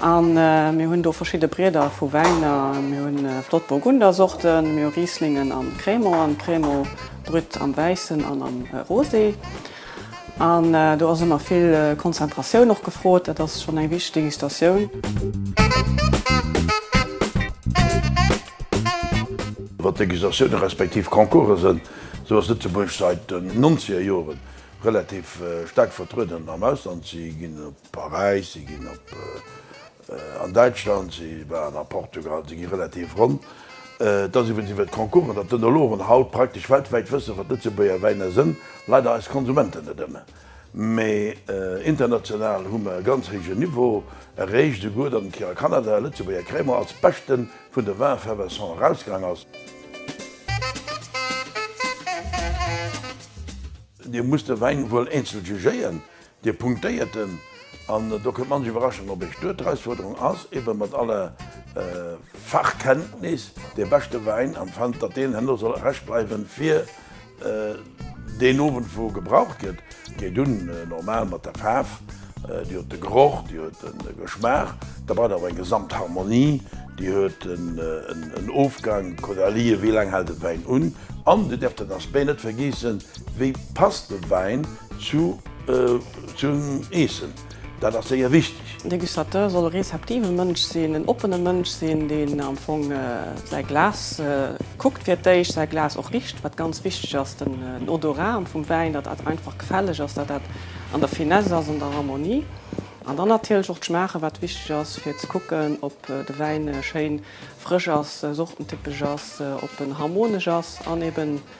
A mir hunn do verschidde Brieder vu Wäiner. Mir hunn flott Burgundersorten, mir hu Rieslingen an Crémant. An Crémant brütt am Wäissen an am Rosé. An do ass ëmmer vill Konzentratioun och gefrot. Dat ass schonn eng wichteg Degustatioun. Wat Degustatiounen respektiv Concourse sënn, esou ass Lëtzebuerg säit den nonzeger Joren relativ staark vertrueden am Ausland. Si ginn op. Paräis, si ginn op an Däitschland, si waren a Portugal, si gi relativ ronn. Et ass iwwregens iwwert d'Concoursen, datt d'Önologen haut praktesch weltwäit wëssen, wat Lëtzebuerger Wäiner sënn. Leider eis Konsumenten net ëmmer, mee international hu mer e ganz héijen Niveau erreecht, esouguer datt eng Kéier a Kanada e Lëtzebuerger Cremant als beschte vun de Vins effervescents erausgaang ass. Dir musst de Wäin wuel eenzel jugéien, Dir punktéiert en, an do kënnt manch Iwwerraschung op Iech duer. D'Erausfuerderung ass ebe mat aller Fachkenntnis dee beschte Wäin, an fand, datt deen herno soll erescht bleiwen, fir deen Owend wou e gebraucht gëtt. Geet un normal mat der Faarf, Dir huet de Geroch, Dir huet de Geschmaach, da braucht Der awer eng Gesamtharmonie, Dir huet en Ofgang, kuckt Der lie, wéi laang hält de Wäin un, an Dir däerft den Aspect net vergiesse, wéi passt de Wäin, Zu zum Eessen, dat ass séier wichteg. De Degustateur soll e rezeptive Mënsch sinn, en oppene Mënsch sinn, deen am Fong säi Glas kuckt fir d'éischt, säi Glas och richt, wat ganz wichteg ass, den Odorat am vum Wäin, datt dat einfach gefälleg ass, datt dat an der Finesse ass, an der Harmonie an dann natierlech och d'Schmaachen, wat wichteg ass, fir ze kucken, ob de Wäin schéin frësch ass, sortentypesch ass, ob en harmonesch ass an eben.